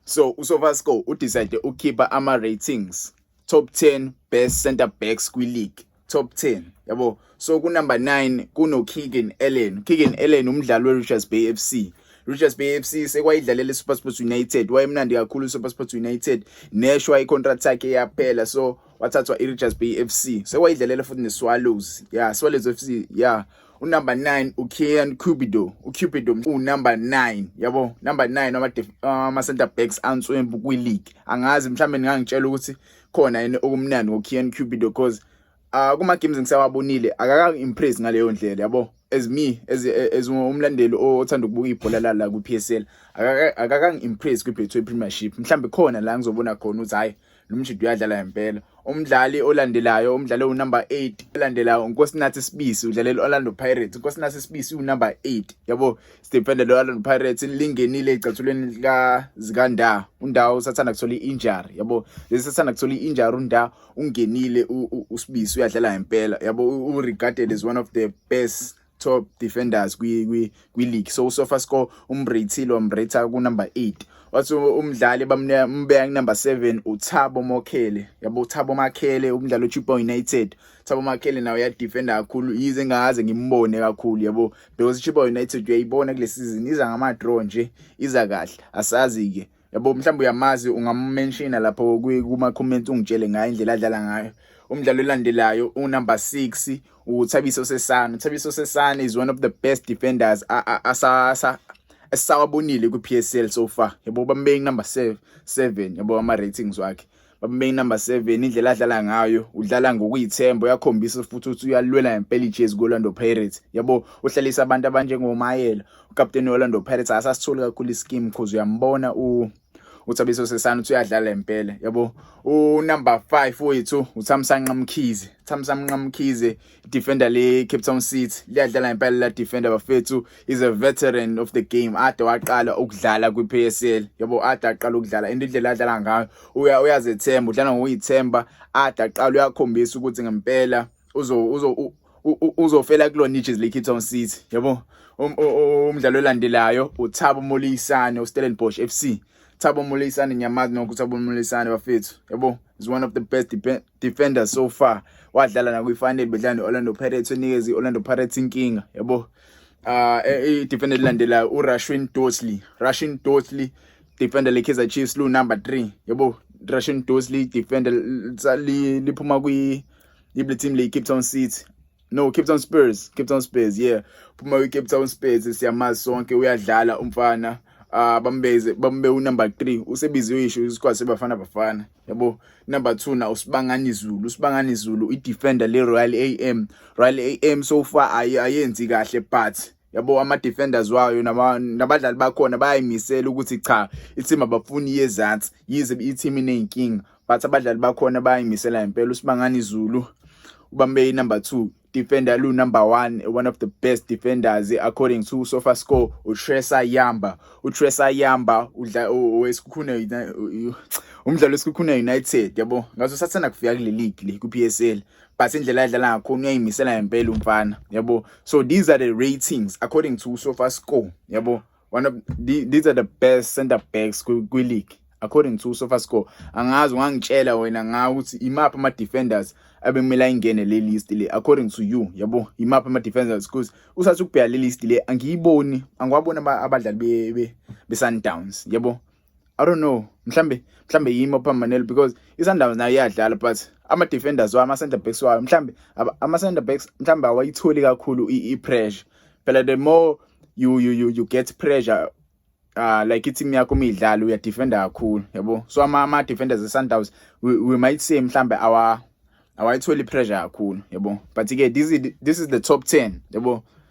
so usovasco udecide ukukhipha ama-ratings top 10 best center backs kwi-league top 10 yabo so kunumber 9 kunokeegan allen keegan allen umdlali we-richards bay f c Richards Bay FC sekwayidlalela iSuperSports United wayemnandi kakhulu iSuperSports United neshwa icontract yakhe yaphela so wathathwa iRichards Bay FC sewayidlalela futhi neSwallows yeah Swallows FC yeah unumber 9 uKian Cupido uCupido unumber 9 yabo number 9 ama ama center backs answembu kwi league angazi mhlambe ngangitshela ukuthi khona yini okumnandi ngoKian Cupido because uh, kuma games ngisawabonile akaka impress ngaleyo ndlela yabo as me as as umlandeli othanda ukubuka ibhola la la ku PSL akaka akaka impress kwi Betway Premiership mhlambe khona la ngizobona khona ukuthi hayi lo mshidi uyadlala ngempela umdlali olandelayo umdlali owunumber 8 olandelayo uNkosinathi Sibisi udlalela Orlando Pirates uNkosinathi Sibisi unumber 8 yabo sidefender lo Orlando Pirates lingenile ecathulweni lika zikanda undawo usathanda kuthola injury yabo lesathanda kuthola injury unda ungenile uSibisi uyadlala ngempela yabo uregarded as one of the best top defenders kwi kwi kwi league so usofa score umbrethile wambretha ku number 8 wathi umdlali bamneka umbeka ku number 7 uThabo Mokhele yabo Thabo Makhele umdlali oChipa United Thabo Makhele nawo ya defender kakhulu yize ngaze ngimbone kakhulu yabo because Chipa United uyayibona kule season iza ngama draw nje iza kahle asazi ke yabo mhlawumbe uyamazi ungammenshina lapho kuma comments ungitshele ngayo indlela adlala ngayo umdlalo olandelayo unumber 6 uThabiso Sesane uThabiso Sesane is one of the best defenders asasa esawabonile ku PSL so far yabo bambeki number 7 yabo ama ratings wakhe babambe inumber 7 indlela adlala ngayo udlala ngokuyithemba uyakhombisa futhi ukuthi uyalwela ngempela ijezi ku-orlando pirates yabo uhlalisa abantu abanjengomayela ukapteni we-orlando pirates asasitholi kakhulu isikimu cause uyambona u uthabiso sesana uthi uyadlala impela yabo unumber 5 wethu uthamsanqa mkhize thamsanqa mkhize defender le Cape Town City liyadlala impela la defender bafethu is a veteran of the game ade waqala ukudlala kwi PSL yabo ade aqala ukudlala into indlela adlala ngayo uya uyazethemba udlala ngokuyithemba ade aqala uyakhombisa ukuthi ngempela uzo uzo uzofela kulona iJersey le Cape Town City yabo um, umdlalo olandelayo uThabo Molisane uStellenbosch FC Thabo Molisane ngiyamazi nokuthi Thabo Molisane bafethu yabo is one of the best defender so far wadlala nakwifanele bedlala ne-orlando pirates onikeza i-orlando pirates inkinga yabo uh eh, i-defender elilandelayo urashwin dosley russian dosley defender le-kaizer chiefs lu-number three yabo russian dosley defender liphuma kwi-ible team le-cape town city no cape town spurs cape town spurs yeah phuma kwi-cape town spurs siyamazi sonke uyadlala umfana uh, bambeze bambe unumber 3 usebiziwe isho isikwasi sebafana bafana yabo number 2 na usibangani zulu usibangani zulu idefender le royal am royal am so far ayenzi kahle but yabo ama defenders wayo nabadlali bakhona bayayimisela ukuthi cha ithimba bafuni yezansi yize ithimba inenkinga but abadlali bakhona bayimisela impela usibangani Zulu ubambe number 2 defender lu number 1 one of the best defenders according to sofa score uTresa Yamba uTresa Yamba udla wesikhuna umdlalo wesikhuna United yabo ngaso sathanda kufika kule league le ku PSL but indlela adlala ngakho uyayimisela impela umfana yabo so these are the ratings according to sofa score yabo one of the, these are the best center backs kwi-league according to sofa score angazi ungangitshela wena ngawo ukuthi imaphi ama-defenders abekumele ayingene le list le according to you yabo imaphi ama-defenders because usathi ukubheka le list le angiyiboni angiwaboni abadlali be-sundowns yabo I don't know mhlambe mhlambe yimi ophambanele because iSundowns nayo iyadlala but ama defenders wayo ama center backs wayo mhlambe ama center backs mhlambe awayitholi kakhulu i pressure phela the more you you you, you get pressure uh like i-team yakho uma idlala uyadefenda kakhulu yabo so ama-defenders e-sundowns we, we might say mhlambe awayitholi i-pressure kakhulu yabo but-ke this, this is the top 10 yabo